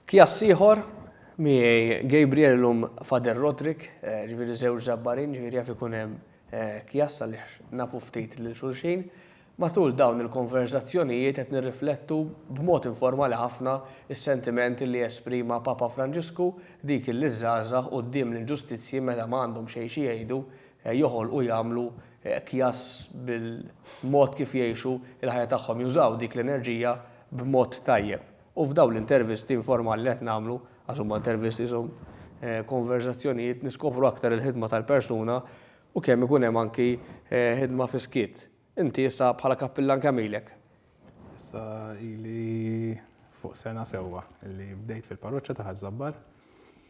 Kjass ieħor, miegħi Gabriel illum Father Roderick, ġifieri żewġ żabbarin, ġifieri jaf ikun hemm kjass għaliex nafu ftit lil xulxin. Matul dawn il-konverżazzjonijiet qed nirriflettu b'mod informali ħafna s-sentimenti li esprima Papa Franġisku, dik illi ż-żgħażagħ quddiem l-inġustizzji meta ma għandhom xejn xi jgħidu, joħolqu jagħmlu kjass bil-mod kif jgħixu l-ħajja tagħhom, jużaw dik l-enerġija b'mod tajjeb. U f'dawn l-intervisti informali li qed nagħmlu, għax huma intervisti insomma, konverżazzjonijiet, niskopru aktar il-ħidma tal-persuna u kemm ikun hemm anki ħidma fis-skiet. Inti issa bħala kappillan kemm ilek? Issa ili fuq sena sewwa li bdejt fil-parroċċa ta' Ħaż-Żabbar.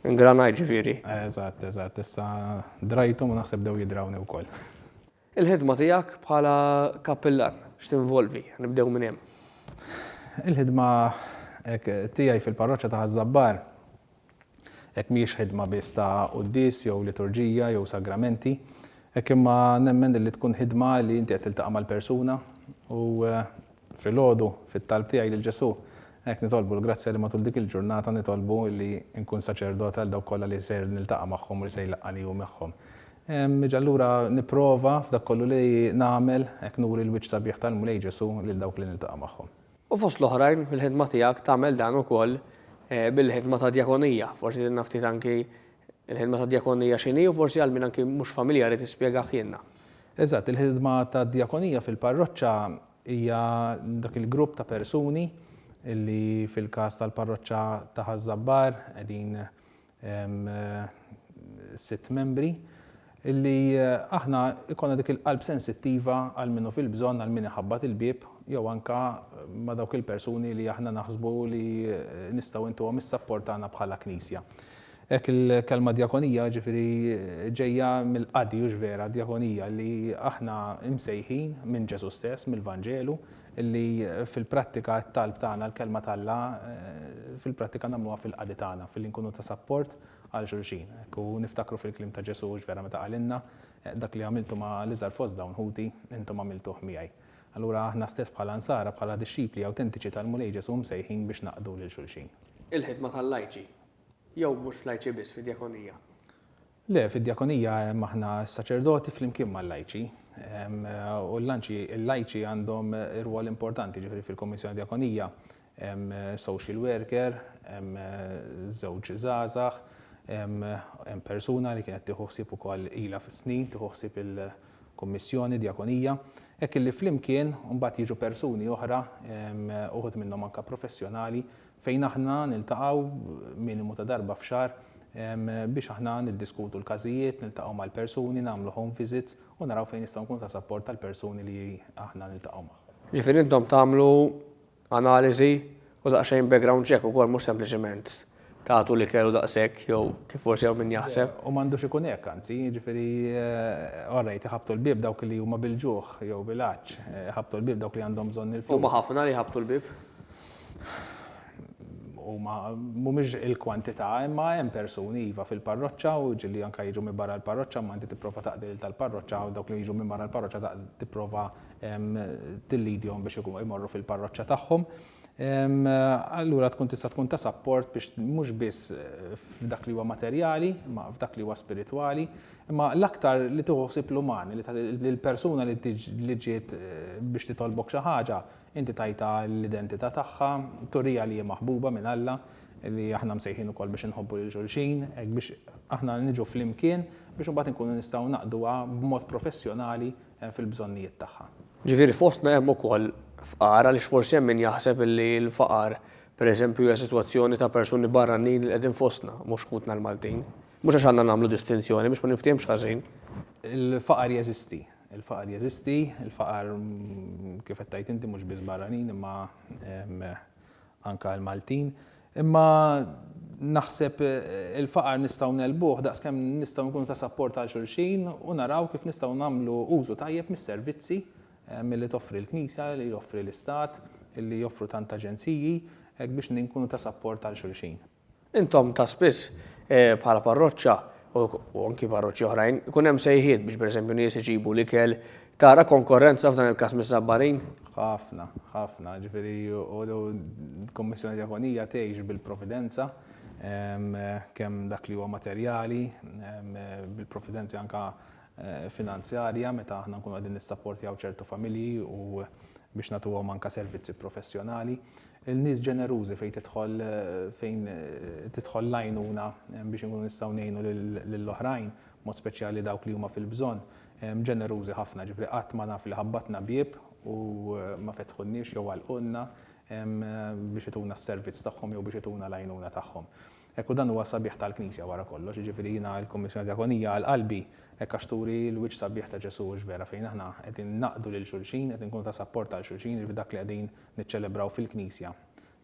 Ingranajt ġifieri. Eżatt, eżatt. Issa drajthom u naħseb bdew jidrawni wkoll. Il-ħidma tiegħek bħala kappillan x'tinvolvi? Nibdew minn hemm. Il-ħidma tiegħi fil-parroċċa ta' Ħaż-Żabbar hekk mhijiex ħidma biss ta' quddies jew liturġija jew sagramenti, hekk imma nemmen li tkun ħidma li inti qed tiltaqa' mal-persuna u Filgħodu, fit-talb tiegħi lil Ġesù, hekk nitolbu l-grazzja li matul dik il-ġurnata nitolbu li nkun saċerdot għal dawk kollha li ser niltaqa' magħhom u li se jlaqqgħani hu magħhom. Niġi allura nipprova f'dak kollu li nagħmel, hekk nuri l-wiċċ sabiħ tal-Mulej Ġesù lil dawk li niltaqa' magħhom. U fost l-oħrajn fil-ħidma tiegħek tagħmel dan ukoll bil-ħidma ta' djakonija, forsi tinna ftit anki Il-ħidma tad-djakonija x'inhi u forsi għal min anki mhux familjari tispjega ħjienna. Eżatt, il-ħidma tad-djakonija fil-parroċċa hija dak il-grupp ta' persuni li fil-każ tal-parroċċa ta' Ħaż-Żabbar qegħdin sitt membri Illi aħna jkollna dik il-qalb sensittiva għal min hu fil-bżonn, għal min iħabbat il-bieb, jew anke ma' dawk il-persuni li aħna naħsbu li nistgħu intuhom is-sapport tagħna bħala Knisja. Hekk il-kelma djakonija ġifieri ġejja mill-qadi, hux vera, djakonija, illi aħna msejħin minn Ġesù stess, mill-Vanġelu, illi fil-prattika t-talb tagħna l-Kelma t'Alla fil-prattika nagħmluha fil-qadi tagħna, filli nkunu ta' sapport għal xulxin. Hekk hu, niftakru fil-kliem ta' Ġesù hux vera meta qalilna, Dak li għamiltu ma' l-iżgħar fost dawn ħuti, intom għamiltuh miegħi. Allura aħna stess bħala Nsara, bħala dixxipli awtentiċi tal-Mulej Ġesù msejħin biex naqdu lil xulxin. Il-ħidma tal-lajċi, jew mhux lajċi biss fid-djakonija? Le, fid-djakonija hemm aħna s-saċerdoti flimkien mal-lajċi. U l-lajċi għandhom rwol importanti, jiġifieri fil-Kummissjoni Djakonija Hemm social worker, hemm żewġ żgħażagħ, hemm persuna li kienet tieħu ħsieb ukoll ilha fis-snin tieħu ħsieb il-kummissjoni, djakonija. Hekk illi flimkien mbagħad jiġu persuni oħra, uħud minnhom anke professjonali, fejn aħna niltaqgħu minimu ta' darba f'xahar biex aħna niddiskutu l-każijiet, niltaqgħu mal-persuni, nagħmlu home visits u naraw fejn nistgħu nkunu ta' sapport għall-persuni li aħna niltaqgħu magħhom. Jiġifieri intom tagħmlu Analiżi u daqsxejn background check ukoll mhux sempliċement tagħtu l-ikel u daqshekk jew kif forsi hawn min jaħseb. U m'għandux ikun hekk anzi, jiġifieri all right iħabbtu l-bieb dawk li huma bil-ġuħ jew bil-għatx, iħabbtu l-bieb dawk li għandhom bżonn il-flus. Huma ħafna li jħabbtu l-bieb? Huma mhumiex il-kwantità imma hemm persuni iva fil-parroċċa u ġieli anke jiġu minn barra l-parroċċa imma inti tipprova taqdi lil tal-parroċċa u dawk li jiġu minn barra l-parroċċa tipprova tillidjhom biex imorru fil-parroċċa tagħhom, allura tkun tista' tkun ta' sapport biex mhux biss eh, f'dak li huwa materjali, ma f'dak li huwa spiritwali, imma l-aktar li tuħsib l-umani, l-persuna li ġiet eh, biex titolbok xi ħaġa, inti tajta l-identità tagħha, turija li hija maħbuba minn Alla, li aħna msejħin ukoll biex inħobbu lil xulxin, biex aħna niġu flimkien biex imbagħad inkunu nistgħu naqduha b'mod professjonali hemm fil-bżonnijiet tagħha. Ġifieri fostna hemm ukoll fqar għaliex forsi hemm min jaħseb li l-faqar pereżempju hija sitwazzjoni ta' persuni barranin li qegħdin fostna, mhux ħutna l-Maltin. Mhux għax għandna nagħmlu distinzjoni biex ma ninftiehmx ħażin. Il-faqar jeżisti. Il-faqar jeżisti. Il-faqar kif qed tgħid inti mhux biss barranin imma anke għall-Maltin. Imma naħseb il-faqar nistgħu ngħelbuh daqskemm nistgħu nkunu ta' sapport għal xulxin u naraw kif nistgħu nagħmlu użu tajjeb mis-servizzi eh, milli toffri l-Knisja, li joffri l-Istat, li joffru tant aġenziji, hekk biex ninkunu ta' sapport għal xulxin. Intom ta' spiss, bħala parroċċa, u anki parroċċi oħrajn, ikun hemm sejħiet biex pereżempju nies iġibu l-ikel, tara konkorrenza f'dan il-każ miż-Żabbarin? Ħafna, ħafna. Ġifieri u l-Kummissjoni Djakonija tgħix bil-providenza, kemm dak li huwa materjali, bil-providenza anke finanzjarja meta aħna nkunu qegħdin nissapportjaw ċertu familji u biex nagħtuhom anke servizzi professjonali. Il-nies ġenerużi fejn tidħol fejn tidħol l-għajnuna biex inkunu nistgħu ngħinu lil oħrajn, b'mod speċjali dawk li huma fil-bżonn, ġenerużi ħafna, jiġifieri qatt ma naf li ħabbatna bieb u ma fetħulniex jew għalqulna biex ituna s-servizz tagħhom jew biex ituna l-għajnuna tagħhom. Hekk u dan huwa s-sabiħ tal-Knisja wara kollox, jiġifieri jiena l-Kummissjoni Djakonija għal qalbi hekk għax turi l-wiċċ sabiħ ta' Ġesù hux vera fejn aħna qegħdin naqdu lil xulxin, qed inkunu ta' sapport għal xulxin, jiġifieri dak li qegħdin niċċelebraw fil-Knisja,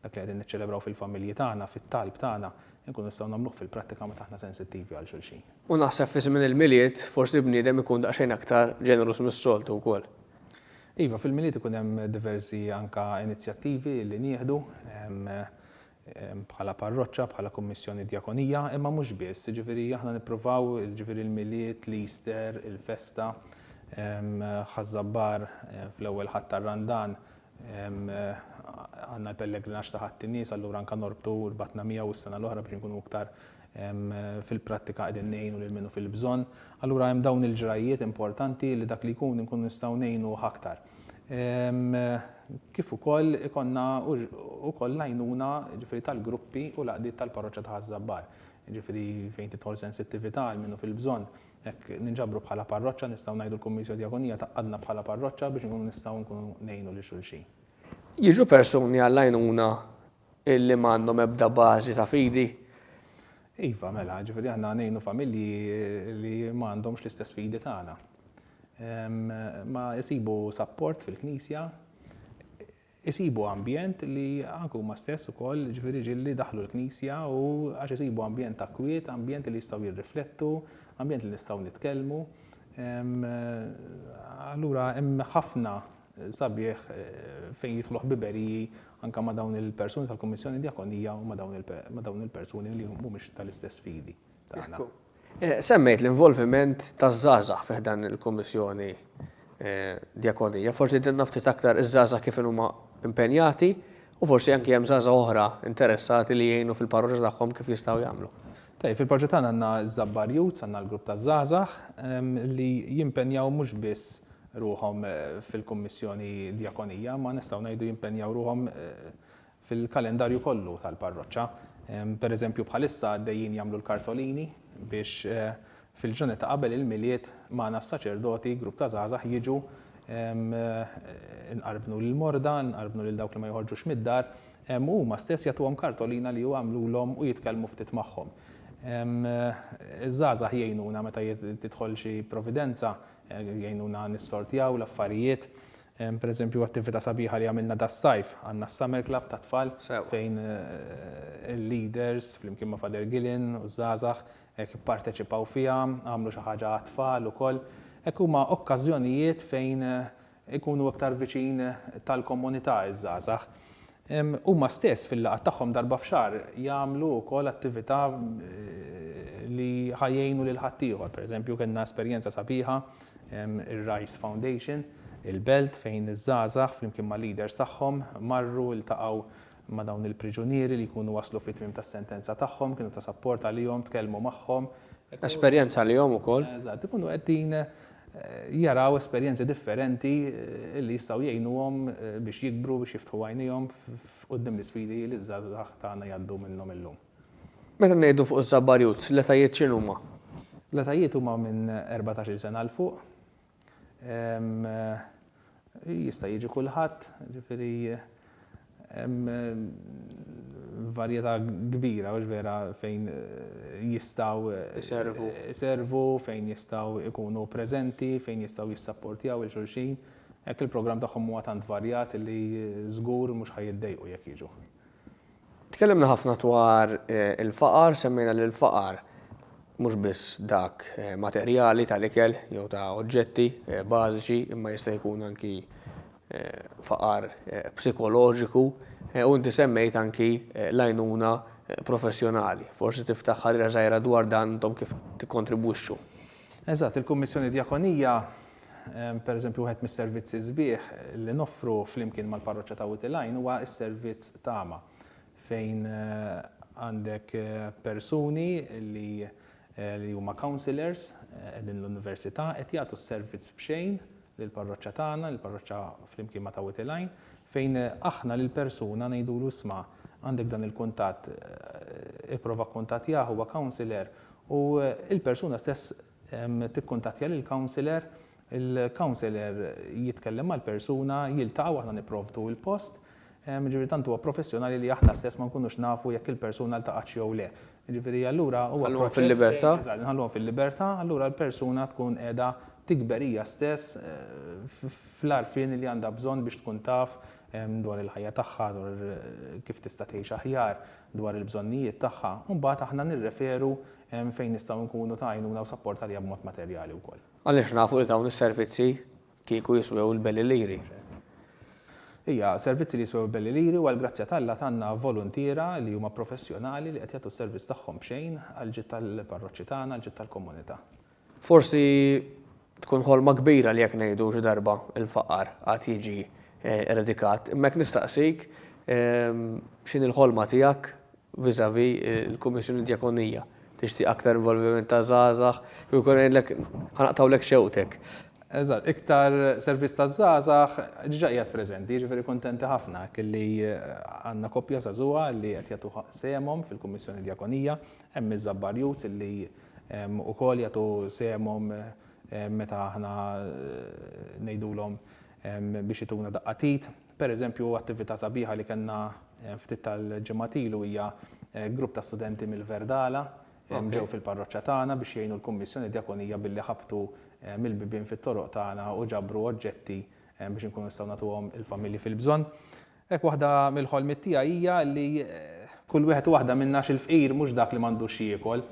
dak li qegħdin niċċelebraw fil-familji tagħna, fit-talb tagħna, inkunu nistgħu nagħmluh fil-prattika meta aħna sensittivi għal xulxin. U naħseb fi żmien il-Milied forsi l-bniedem ikun daqsxejn aktar ġeneruż mis-soltu wkoll. Iva, fil-Milied ikun hemm diversi anke inizjattivi li nieħdu. bħala parroċċa, bħala kummissjoni djakonija, imma mhux biss, jiġifieri aħna nippruvaw, jiġifieri l-Milied, l-Easter, il-festa, Ħaż-Żabbar fl-ewwel Ħadd tar-Randan għandna l-pellegrinaġġ ta' Ħadd in-Nies, allura anke norbtu rbatna miegħu s-sena l-oħra biex inkunu iktar fil-prattika qegħdin ngħinu lil min hu fil-bżonn. Allura hemm dawn il-ġrajjiet importanti li dak li jkun inkunu nistgħu ngħinuh aktar. kif ukoll ikonna ukoll l-għajnuna ġifiri tal-gruppi u l-għaqdiet tal-parroċċa ta' Ħaż-Żabbar. Ġifiri fejn tidħol sensittività għal minnu fil-bżonn, hekk ninġabru bħala parroċċa nistgħu ngħidu l-Kummisjo Djakonija taqqadna bħala parroċċa biex nkunu nistgħu nkunu ngħinu lil xulxin. Jiġu persuni għall-għajnuna illi ma għandhom ebda bażi ta' fidi? Iva, mela, ġifiri għanna għanejnu familji li ma għandhomx l-istess fidi tagħna. Ma jisibu sapport fil-knisja, jisibu ambjent li għanku ma stess u koll ġifiri ġilli daħlu l-knisja u għax jisibu ambjent ta' kwiet, ambjent li jistaw jirriflettu, ambjent li nistaw nitkelmu. Allura, hemm ħafna sabiħ fejn jidħlu ħbiberiji anke ma' dawn il-persuni tal-Kummissjoni Djakonija u ma' dawn il-persuni li mhumiex tal-istess fidi tagħna. Semmejt l-involviment taż-żgħażagħ fi ħdan il-Kummissjoni Djakonija. Forsi tgħidilna ftit aktar iż-żgħażagħ kif inhuma impenjati u forsi anke hemm żgħażagħ oħra interessati li jgħinu fil-parroċċa tagħhom kif jistgħu jagħmlu? Tajjeb, fil-proġett tagħna għandna ż-Żabbar Youths, għandna l-grupp taż-żgħażagħ li jimpenjaw mhux biss ruħhom fil-kummissjoni djakonija, imma nistgħu ngħidu jimpenjaw ruħhom fil-kalendarju kollu tal-parroċċa. Pereżempju bħalissa għaddejjin jagħmlu l-kartolini biex Fil-ġranet ta' qabel il-Milied, magħna s-saċerdoti, grupp ta' żgħażagħ jiġu inqarbnu lill-morda, inqarbnu lil dawk li ma joħorġux mid-dar, u huma stess jagħtuhom kartolina li jagħmlulhom u jitkellmu ftit magħhom. Iż-żgħażagħ jgħinuna meta tidħol xi providenza, jgħinuna nissortjaw l-affarijiet. Pereżempju, attività sabiħa li għamilna das-sajf, għandna s-Summer Club tat-tfal fejn il-leaders flimkien ma' Father Gillen u ż-żgħażagħ Hekk ipparteċipaw fiha, għamlu xi ħaġa għat-tfal ukoll. Hekk huma okkażjonijiet fejn ikunu iktar viċin tal-komunità ż-żgħażagħ. Huma stess fil-laqgħat tagħhom darba f'xahar jagħmlu wkoll attività li ħa jgħinu lil ħaddieħor. Pereżempju kellna esperjenza sabiħa, ir-Rice Foundation, il-Belt fejn iż-żgħażagħ flimkien mal-leaders tagħhom marru ltaqgħu Imma dawn il-priġunieri li jkunu waslu fit-tmiem tas-sentenza tagħhom, kienu ta' sapport għalihom, tkellmu magħhom. Esperjenza għalihom ukoll. Eżatt, ikunu qegħdin jaraw esperjenzi differenti li jistgħu jgħinuhom biex jikbru, biex jiftħu għajnejhom quddiem l-isfidi li ż-żgħażagħ tagħna jgħaddu minnhom illum. Meta ngħidu fuq iż-Żabbar Youths, l-etajiet x'inhuma? L-etajiet huma minn erbatax-il sena 'l fuq. Jista' jiġi kulħadd, ġifieri hemm varjetà kbira mhux vera fejn jistgħu jservu, jservu fejn jistgħu jkunu preżenti, fejn jistgħu jissapportjaw il xulxin. Hekk il-programm tagħhom huwa tant varjat li żgur mhux ħa jiddejqu jekk jiġu. Tkellimna ħafna dwar il-faqar, semmejna li l-faqar mhux biss dak materjali tal-ikel jew ta' oġġetti bażiċi imma jista' jkun anki faqar psikoloġiku u inti semmejt anki l-għajnuna professjonali. Forsi tiftaħ ħarira żgħira dwar dan intom kif tikkontribwixxu. Eżatt, il-Kummissjoni Djakonija Pereżempju, wieħed mis-servizzi sbieħ li noffru flimkien mal-parroċċa ta' Wied il-Għajn huwa s-servizz Tama, fejn għandek persuni li li huma counsellors qegħdin l-Università qed jagħtu s-servizz b'xejn lill-parroċċa tagħna, lill-parroċċa flimkien ma' ta' Wied il-Għajn, fejn aħna lill-persuna ngħidulu isma' għandek dan il-kuntatt, ipprova kkuntattjah huwa counsellor u l-persuna stess Tikkuntattja lill-counsellor, il-counsellor jitkellem mal-persuna, jiltaqgħu, aħna nipprovdu l-post. Jiġifieri tant huwa professjonali li aħna stess ma nkunux nafu jekk il-persuna ltaqgħatx jew le. Jiġifieri allura huwa proċess. Inħalluhom fil-libertà. Eżatt, inħalluhom fil-libertà, allura l-persuna tkun qiegħda tikber hija stess fl-għarfien li għandha bżonn biex tkun taf dwar il-ħajja tagħha, dwar kif tista' tgħix aħjar, dwar il-bżonnijiet tagħha. U mbagħad aħna nirreferu Hemm fejn nistgħu nkunu ta' għajnuna u sapport għaliha b'mod materjali wkoll. Għaliex nafu li dawn is-servizzi kieku jiswew il-belli liri. Ija, servizzi li jiswew il-belli liri u għall-grazzja t'Alla tgħandna voluntiera li huma professjonali li qed jagħtu s-servizz tagħhom b'xejn għall-ġid tal-parroċċi tagħna, għall-ġid tal-komunità. Forsi tkun ħolma kbira li jekk ngħidu xi darba l-faqar għad jiġi eradikat, imma jekk nistaqsik x'inhi l-ħolma tiegħek vis-à-vis il-Kummissjoni Djakonija? Tixtieq aktar involviment ta' żgħażagħ? Kieku jkolli ngħidlek ħa naqtgħulek xewqtek. Eżatt, iktar servizz taż-żgħażagħ diġà qiegħed preżenti, jiġifieri kuntenti ħafna hekk illi għandna koppja żagħżugħa li qed jagħtu sehemhom fil-Kummissjoni Djakonija. Hemm iż-Żabbar Youths illi Ukoll jagħtu sehemhom meta aħna ngħidulhom biex ituna daqqa t'id. Pereżempju, attività sabiħa li kellna ftit tal-ġimgħat ilu hija grupp ta' studenti mill-Verdala ġew fil-parroċċa tagħna biex jgħinu l-Kummissjoni Djakonija billi ħabtu mill-bibien fit-toroq tagħna u ġabru oġġetti biex inkunu nistgħu nagħtuhom il-familji fil-bżonn. Hekk waħda mill-ħolmiet tiegħi hija li kull wieħed u waħda minna għax il-fqir mhux dak li m'għandux x'jiekol.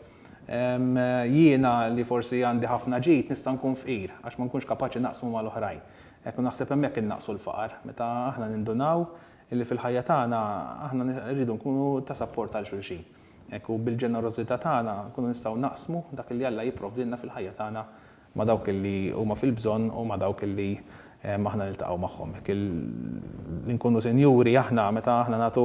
Jiena li forsi għandi ħafna ġid nista' nkun fqir għax ma nkunx kapaċi naqsmu mal-oħrajn. Hekk u naħseb hemmhekk innaqsu l-faqar, meta aħna nindunaw illi fil-ħajja tagħna aħna rridu nkunu ta' sapport għal xulxin. Hekk u bil-ġenerożità tagħna nkunu nistgħu naqsmu dak li Alla jipprovdilna fil-ħajja tagħna ma' dawk li huma fil-bżonn u ma' dawk li aħna niltaqgħu magħhom. Hekk li nkunu sinjuri aħna meta aħna nagħtu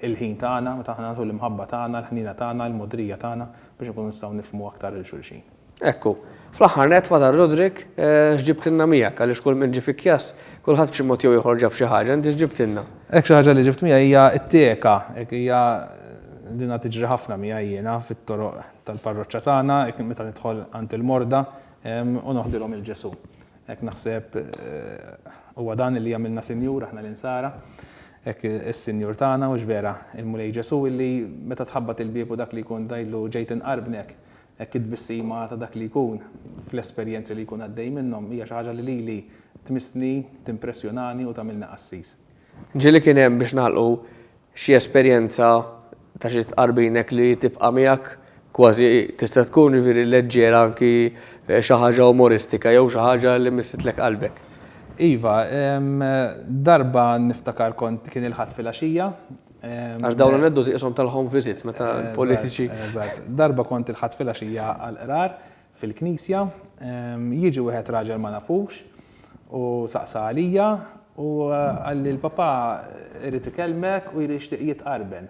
l-ħin tagħna, meta aħna nagħtu l-imħabba tagħna, l-ħniena tagħna, l-mogħdrija tagħna biex inkunu nistgħu nifhmu aktar lil xulxin. Hekk hu. Fl-aħħar nett, Father Roderick, x'ġibtilna miegħek? Għaliex kull min ġie fi Kjass, kulħadd b'xi mod jew ieħor ġab xi ħaġa, inti x'ġibtilna? Hekk xi ħaġa li ġibt miegħi hija t-teaka, hija din tiġri ħafna miegħi jiena fit-toroq tal-parroċċa tagħna, meta nidħol għand il-morda u noħdilhom il Ġesu. Hekk naħseb huwa dan li jagħmilna Sinjur aħna l-insara, hekk is-Sinjur tagħna u x'vera il-Mulej Ġesu illi meta tħabbat il-bieb u dak li jkun dajlu ġejt inqarbnek, hekk it-tbissima ta' dak li jkun fl-esperjenzi li jkun għaddej minnhom hija xi ħaġa li lili tmissni, timpressjonani u tagħmilni qassis. Ġieli kien hemm biex nagħlqu Xi esperjenza ta' xi tqarbin hekk li tibqa' miegħek kważi tista' tkun ġifieri leġġera anki xi ħaġa umoristika jew xi ħaġa li misslitlek qalbek? Iva, darba niftakar kont kien il-Ħadd filgħaxija. Għax dawn l-aneddoti qishom tal-home visit meta l-politiċi. Eżatt. Darba kont il-Ħadd filgħaxija għall-qrar, fil-knisja, jiġi wieħed raġel ma nafux u saqsa għalija u qalli l-Papà irid ikellmek u jixtieq jitqarben.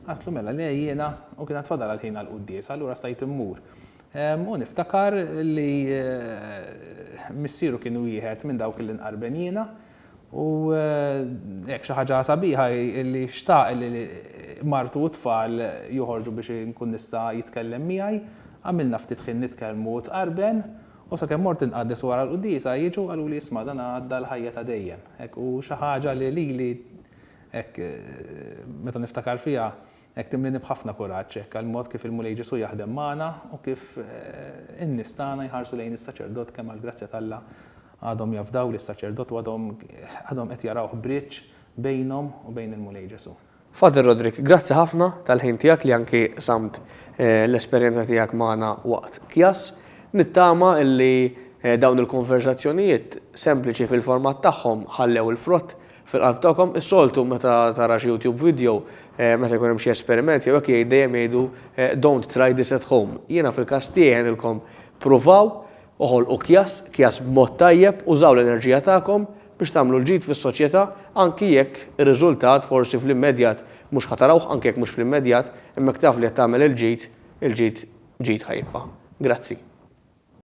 Għidtlu mela le jiena u kien għad fadal għal ħin għall-quddiesa allura stajt immur. U niftakar li missieru kien wieħed minn dawk li nqarben jiena. U hekk xi ħaġa sabiħa hi li xtaq li martu u t-tfal joħorġu biex inkun nista' jitkellem miegħi. Għamilna ftit ħin nitkellmu u tqarben, u sakemm mort inqaddes u wara l-quddiesa jiġu qaluli isma' dan għadda l-ħajja ta' dejjem. Hekk u xi ħaġa li lili hekk meta niftakar fiha Hekk timlieni b'ħafna kuraġġ, hekk għall-mod kif il-Mulej Ġesù jaħdem magħna u kif in-nies tagħna jħarsu lejn is-saċerdot kemm għall-grazzja t'Alla għadhom jafdaw lis-saċerdot u għadhom qed jarawh bridge bejnhom u bejn il-Mulej Ġesù. Father Roderick, grazzi ħafna tal-ħin tiegħek li anki qsamt l-esperjenza tiegħek magħna waqt Kjass. Nittama li dawn il-konverżazzjonijiet sempliċi fil-format tagħhom ħallew il-frott Fil-qalb tagħkom, is-soltu meta tara xi YouTube video, meta jkun hemm xi esperiment jew hekk jgħid dejjem jgħidu don't try this at home. Jiena fil-każ tiegħi ngħidilkom pruvaw, oħolqu kjass, kjass b'mod tajjeb, użaw l-enerġija tagħkom biex tagħmlu l-ġid fis-soċjetà anki jekk ir-riżultat forsi fl-immedjat mhux ħa tarawh, anki jekk mhux fl-immedjat, imma jekk taf li qed tagħmel il-ġid, il-ġid ġid ħa jibqa'. Grazzi.